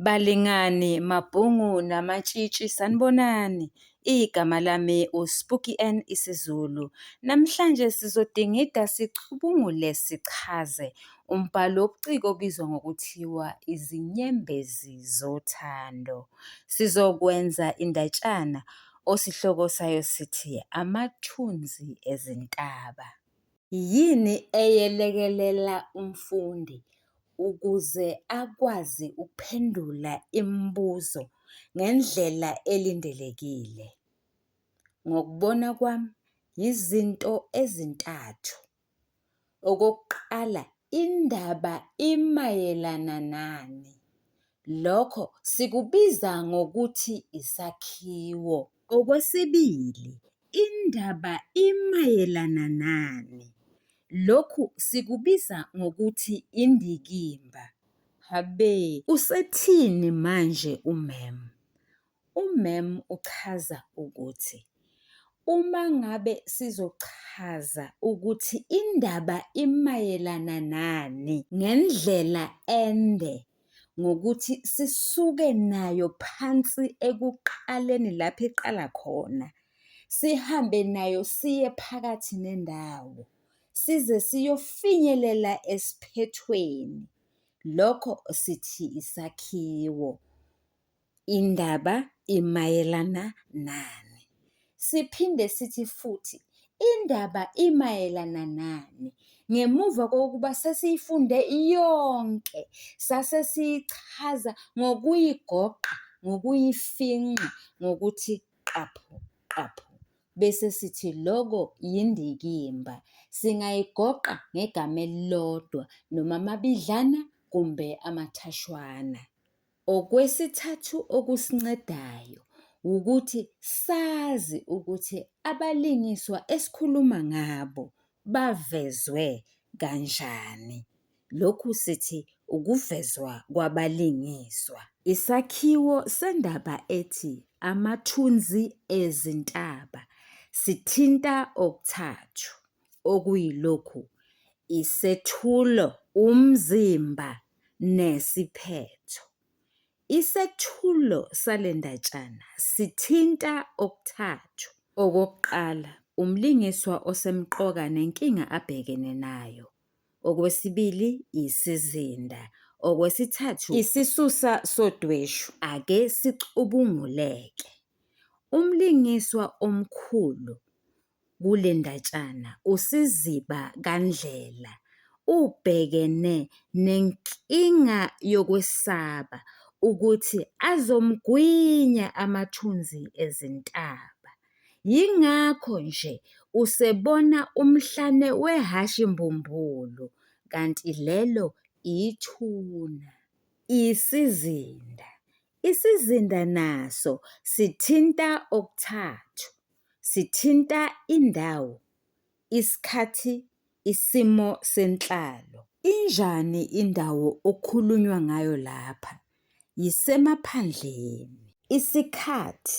Balingani, mabhungu namatshitshi sanibonani. Igama lami uSpooky N isiZulu. Namhlanje sizodingida sicubungule sichaze umbhalo wobuciko obizwa ngokuthiwa izinyembezi zothando. Sizokwenza indatshana osihloko sayo sithi amathunzi ezintaba. Yini eyelekelela umfundi ukuze akwazi ukuphendula imibuzo ngendlela elindelekile? Ngokubona kwami yizinto ezintathu. Okokuqala, indaba imayelana nani? Lokho sikubiza ngokuthi isakhiwo. Okwesibili, indaba imayelana nani? Lokhu sikubiza ngokuthi indikimba. Habe! Usethini manje umem? Umem uchaza ukuthi uma ngabe sizochaza ukuthi indaba imayelana nani ngendlela ende ngokuthi sisuke nayo phansi ekuqaleni lapho iqala khona, sihambe nayo siye phakathi nendawo size siyofinyelela esiphethweni. Lokho sithi isakhiwo. Indaba imayelana nani? Siphinde sithi futhi indaba imayelana nani? Ngemuva kokuba sesiyifunde yonke, sase siyichaza ngokuyigoqa, ngokuyifinqa, ngokuthi qaphu, qaphu. Bese sithi loko yindikimba. Singayigoqa ngegama elilodwa noma amabidlana kumbe amathashwana. Okwesithathu okusincedayo wukuthi sazi ukuthi abalingiswa esikhuluma ngabo bavezwe kanjani. Lokhu sithi ukuvezwa kwabalingiswa. Isakhiwo sendaba ethi Amathunzi Ezintaba sithinta okuthathu okuyilokhu, isethulo, umzimba nesiphetho. Isethulo sale ndatshana sithinta okuthathu. Okokuqala, umlingiswa osemqoka nenkinga abhekene nayo. Okwesibili, isizinda. Okwesithathu, isisusa sodweshu. Ake sicubunguleke. Umlingiswa omkhulu Kule ndatshana uSiziba kaNdlela ubhekene nenkinga yokwesaba ukuthi azomgwinya amathunzi ezintaba. Yingakho nje usebona umhlane wehhashi mbumbulu kanti lelo ithuna. Isizinda, Isizinda naso sithinta okuthathu, sithinta indawo, isikhathi, isimo senhlalo. Injani indawo okukhulunywa ngayo lapha? Yisemaphandleni. Isikhathi,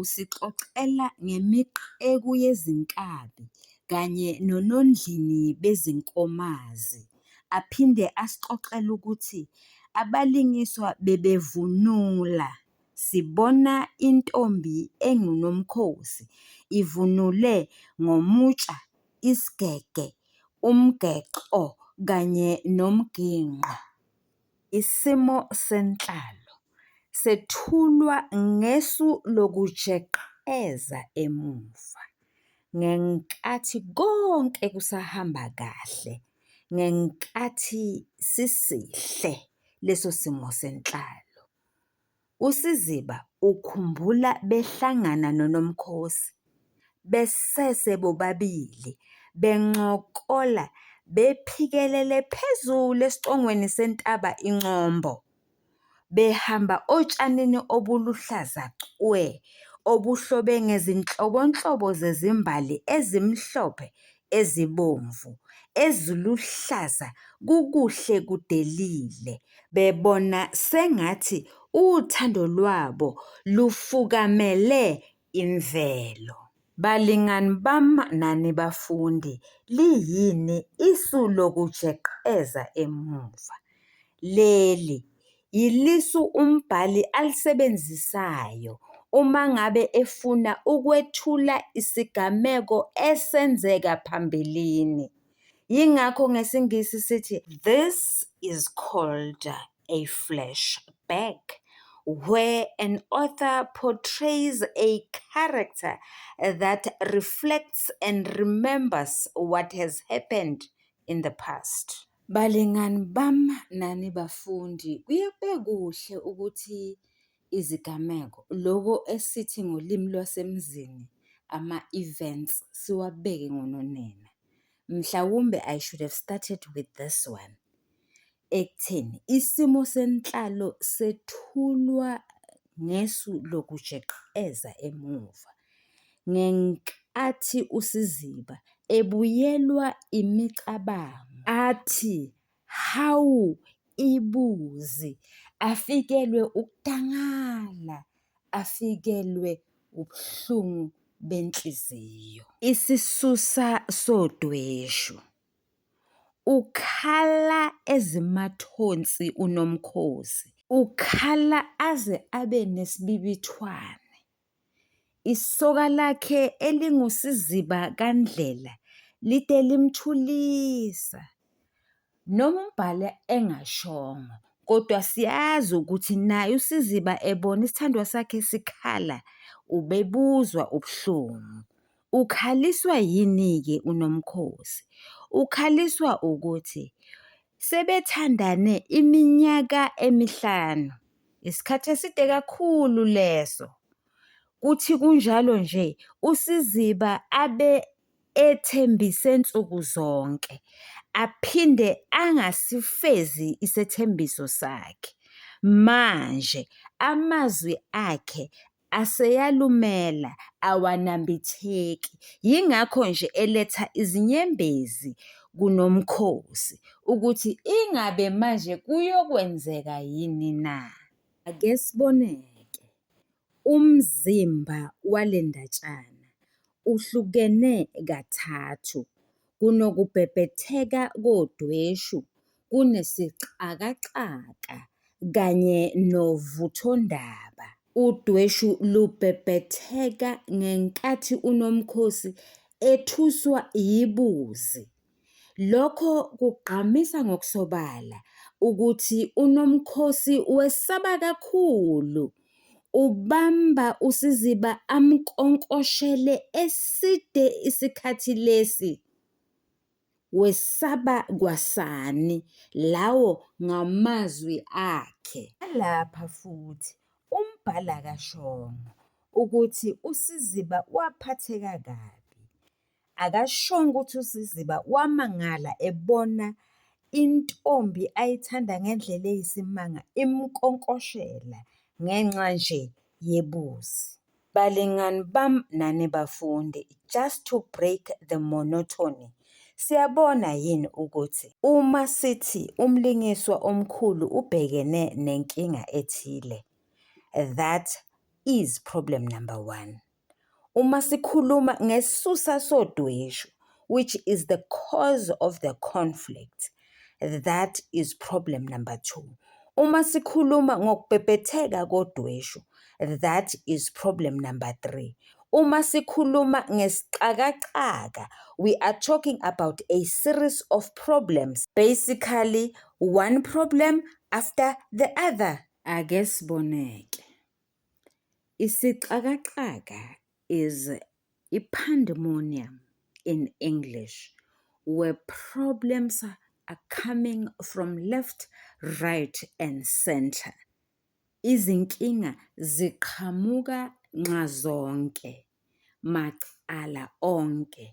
Usixoxela ngemiqeku yezinkabi kanye nonondlini bezinkomazi aphinde asixoxele ukuthi abalingiswa bebevunula sibona intombi enguNomkhosi ivunule ngomutsha, isigege, umgexo kanye nomginqo. Isimo senhlalo sethulwa ngesu lokujeqeza emuva ngenkathi konke kusahamba kahle ngenkathi sisihle leso simo senhlalo. USiziba ukhumbula behlangana noNomkhosi besese bobabili bencokola bephikelele phezulu esicongweni sentaba iNcombo behamba otshanini obuluhlaza cwe obuhlobe ngezinhlobonhlobo zezimbali ezimhlophe, ezibomvu, eziluhlaza kukuhle kudelile bebona sengathi uthando lwabo lufukamele imvelo. Balingani bam nani bafundi, liyini isu lokujeqeza emuva? Leli, Yilisu umbhali alisebenzisayo uma ngabe efuna ukwethula isigameko esenzeka phambilini. Yingakho ngesiNgisi sithi this is called a flashback where an author portrays a character that reflects and remembers what has happened in the past. Balingani bam nani bafundi, kuye kube kuhle ukuthi izigameko loko esithi ngolimi lwasemzini ama-events siwabeke ngononina. Mhlawumbe I should have started with this one ekutheni isimo senhlalo sethulwa ngesu lokujeqeza emuva. ngenkathi uSiziba ebuyelwa imicabango athi, Hawu ibuzi! Afikelwe ukudangala, afikelwe ubuhlungu benhliziyo. Isisusa sodweshu. Ukhala ezimathonsi uNomkhosi. Ukhala aze abe nesibibithwane. Isoka lakhe elingusiziba kaNdlela lide limthulisa. Noma umbhali engashongo kodwa siyazi ukuthi naye usiziba ebona isithandwa sakhe sikhala ubebuzwa ubuhlungu. ukhaliswa yini-ke uNomkhosi? Ukhaliswa ukuthi sebethandane iminyaka emihlanu, isikhathi eside kakhulu leso. Kuthi kunjalo nje uSiziba abe ethembise nsuku zonke aphinde angasifezi isethembiso sakhe. Manje amazwi akhe aseyalumela awanambitheki yingakho nje eletha izinyembezi kuNomkhosi ukuthi ingabe manje kuyokwenzeka yini na. Ake sibone-ke, umzimba wale ndatshana uhlukene kathathu, kunokubhebhetheka kodweshu kunesixakaxaka kanye novuthondaba. Udweshu lubhebhetheka ngenkathi uNomkhosi ethuswa yibuzi. Lokho kugqamisa ngokusobala ukuthi uNomkhosi wesaba kakhulu Ubamba uSiziba amnkonkoshele eside isikhathi lesi. Wesaba kwasani lawo ngamazwi akhe. Lapha futhi umbhali akashongo ukuthi uSiziba waphatheka kabi. Akashongo ukuthi uSiziba wamangala ebona intombi ayithanda ngendlela eyisimanga imkonkoshela ngenxa nje yebuzi. Balingani bam nani bafundi just to break the monotony siyabona yini ukuthi uma sithi umlingiswa omkhulu ubhekene nenkinga ethile that is problem number one. Uma sikhuluma ngesisusa sodweshu which is the cause of the conflict that is problem number two. Uma sikhuluma ngokubhebhetheka kodweshu that is problem number three. Uma sikhuluma ngesixakaxaka we are talking about a series of problems basically one problem after the other. Ake siboneke. Isixakaxaka is i-pandemonium in English where problems are coming from left, right and centre. Izinkinga ziqhamuka nxazonke, macala onke.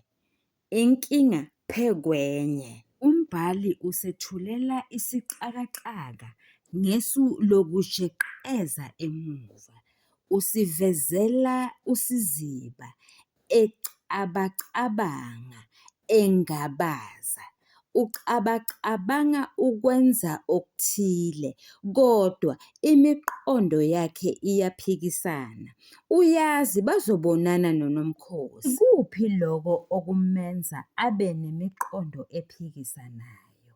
inkinga phe kwenye. Umbhali usethulela isixakaxaka ngesu lokujeqeza emuva. Usivezela usiziba, ecabacabanga, engabaza. ucabacabanga ukwenza okuthile, kodwa imiqondo yakhe iyaphikisana. Uyazi bazobonana noNomkhosi. Ikuphi lokho okumenza abe nemiqondo ephikisanayo?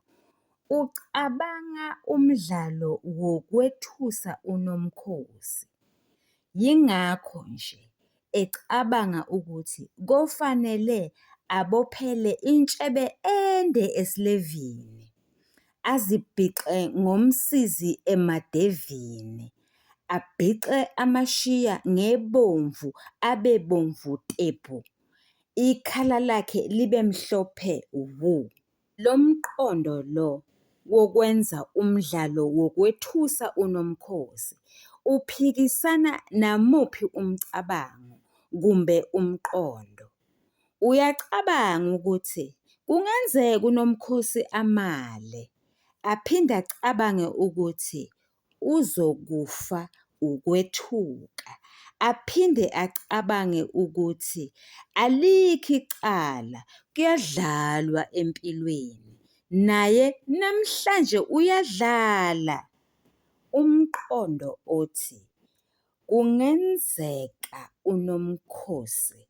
Ucabanga umdlalo wokwethusa uNomkhosi. Yingakho nje ecabanga ukuthi kofanele abophele intshebe ende esilevini, azibhixe ngomsizi emadevini, abhixe amashiya ngebomvu abe bomvu tebhu, ikhala lakhe libe mhlophe wuu. Lo mqondo lo wokwenza umdlalo wokwethusa uNomkhosi uphikisana namuphi umcabango kumbe umqondo? Uyacabanga ukuthi kungenzeka uNomkhosi amale, aphinde acabange ukuthi uzokufa ukwethuka aphinde acabange ukuthi alikho icala kuyadlalwa empilweni naye namhlanje uyadlala umqondo othi kungenzeka uNomkhosi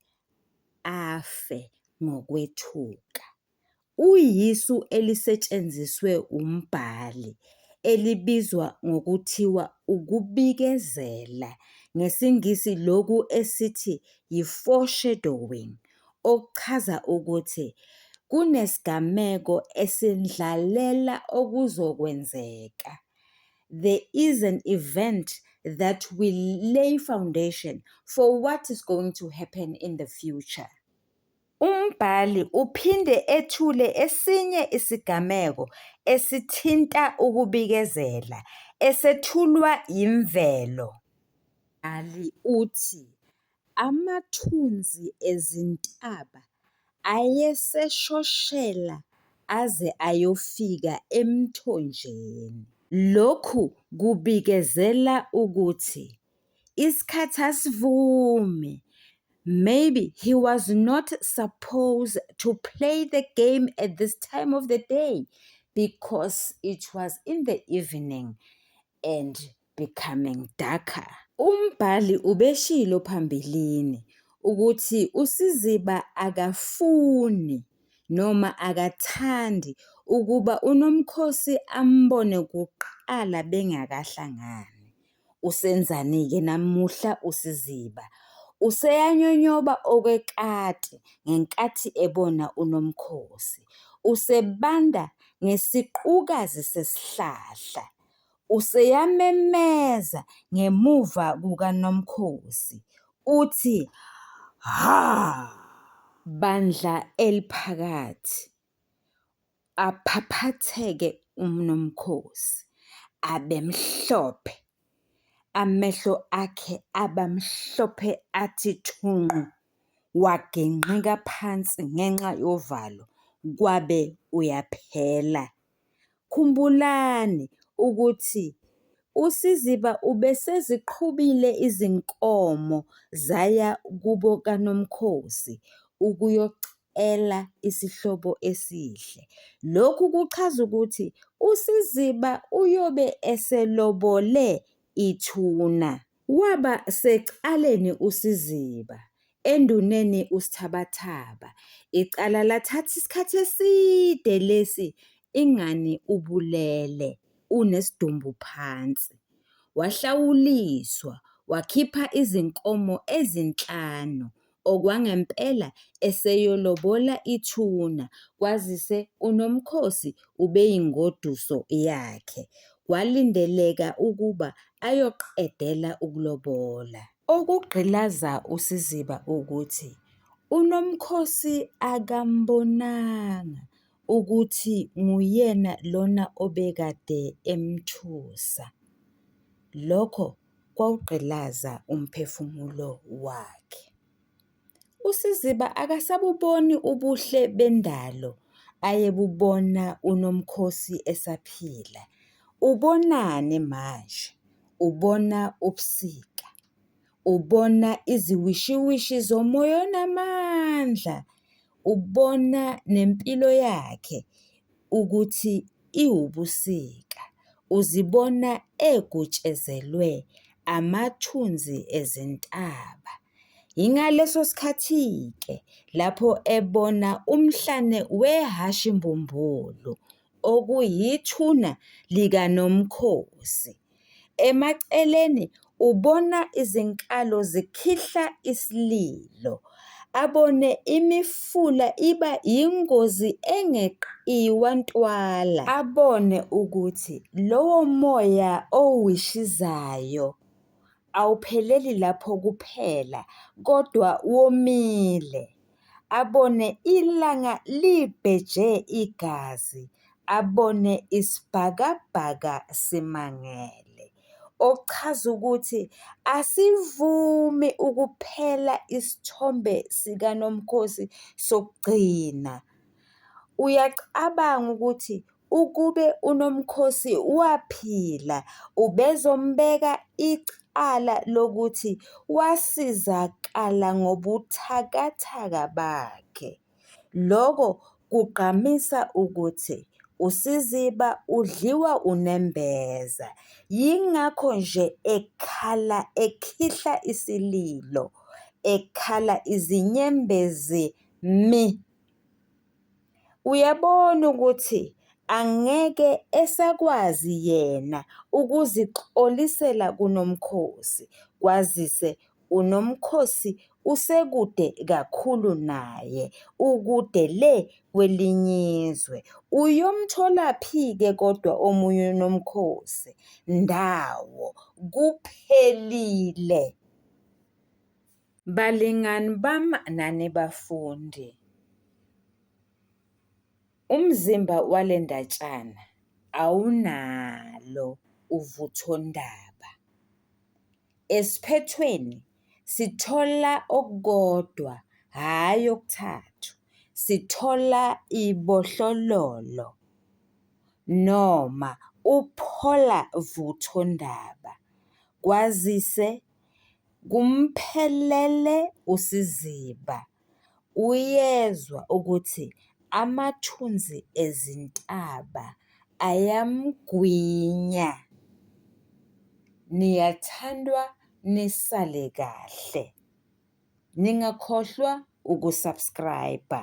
afe ngokwethuka. uyisu elisetshenziswe umbhali elibizwa ngokuthiwa ukubikezela, ngesiNgisi lokhu esithi yi-foreshadowing, okuchaza ukuthi kunesigameko esendlalela okuzokwenzeka, there is an event that will lay foundation for what is going to happen in the future. Umbhali uphinde ethule esinye isigameko esithinta ukubikezela, esethulwa yimvelo. Umbhali uthi, Amathunzi ezintaba ayeseshoshela aze ayofika emthonjeni. Lokhu kubikezela ukuthi isikhathi asivume maybe he was not supposed to play the game at this time of the day because it was in the evening and becoming darker umbhali ubeshilo phambilini ukuthi usiziba akafuni noma akathandi ukuba unomkhosi ambone kuqala bengakahlangani Usenzani-ke namuhla uSiziba? Useyanyonyoba okwekati ngenkathi ebona uNomkhosi. Usebanda ngesiqukazi sesihlahla. Useyamemeza ngemuva kukaNomkhosi, uthi, Hha! Bandla eliphakathi, Aphaphatheke uMnumkhosi abemhlophe, amehlo akhe aba mhlophe athi thunqu, wagingqika phansi ngenxa yovalo kwabe uyaphela. Khumbulani ukuthi uSiziba ubeseziqhubile izinkomo zaya kubo kaNomkhosi ukuyocela ela isihlobo esihle. Lokhu kuchaza ukuthi uSiziba uyobe eselobole ithuna. Waba secaleni uSiziba, enduneni uSthabathaba. Icala lathatha isikhathi eside lesi ingani ubulele unesidumbu phansi. Wahlawuliswa, wakhipha izinkomo ezinhlanu, okwangempela eseyolobola ithuna kwazise uNomkhosi ubeyingoduso yakhe, kwalindeleka ukuba ayoqedela ukulobola. Okugqilaza uSiziba ukuthi uNomkhosi akambonanga ukuthi nguyena lona obekade emthusa. Lokho kwawugqilaza umphefumulo wakhe. USiziba akasabuboni ubuhle bendalo ayebubona uNomkhosi esaphila. Ubonani manje? Ubona ubusika, ubona iziwishiwishi zomoya onamandla, ubona nempilo yakhe. ukuthi iwubusika, uzibona egutshezelwe amathunzi ezintaba. Yingaleso sikhathi-ke lapho ebona umhlane wehhashi mbumbulu, okuyithuna likaNomkhosi. Emaceleni ubona izinkalo zikhihla isililo, abone imifula iba yingozi engeqiwa ntwala, abone ukuthi lowo moya owishizayo Awupheleli lapho kuphela kodwa womile, abone ilanga libheje igazi, abone isibhakabhaka simangele. Okuchaza ukuthi asivumi ukuphela isithombe sikaNomkhosi sokugcina. Uyacabanga ukuthi Ukube uNomkhosi waphila ubezombeka icala lokuthi wasizakala ngobuthakathaka bakhe. Lokho kugqamisa ukuthi uSiziba udliwa unembeza, yingakho nje ekhala ekhihla isililo, ekhala izinyembezi mi. Uyabona ukuthi angeke esakwazi yena ukuzixolisela kuNomkhosi kwazise uNomkhosi usekude kakhulu naye, ukude le kweliny'izwe. Uyomtholaphi-ke kodwa omunye uNomkhosi? Ndawo! Kuphelile! Balingani bam nani bafundi, umzimba wale ndatshana awunalo uvuthondaba. Esiphethweni sithola okukodwa hhayi okuthathu, sithola ibohlololo noma uphola vuthondaba kwazise Kumphelele usiziba uyezwa ukuthi amathunzi ezintaba ayamgwinya. Niyathandwa nisale kahle. Ningakhohlwa uku-subscribe-a.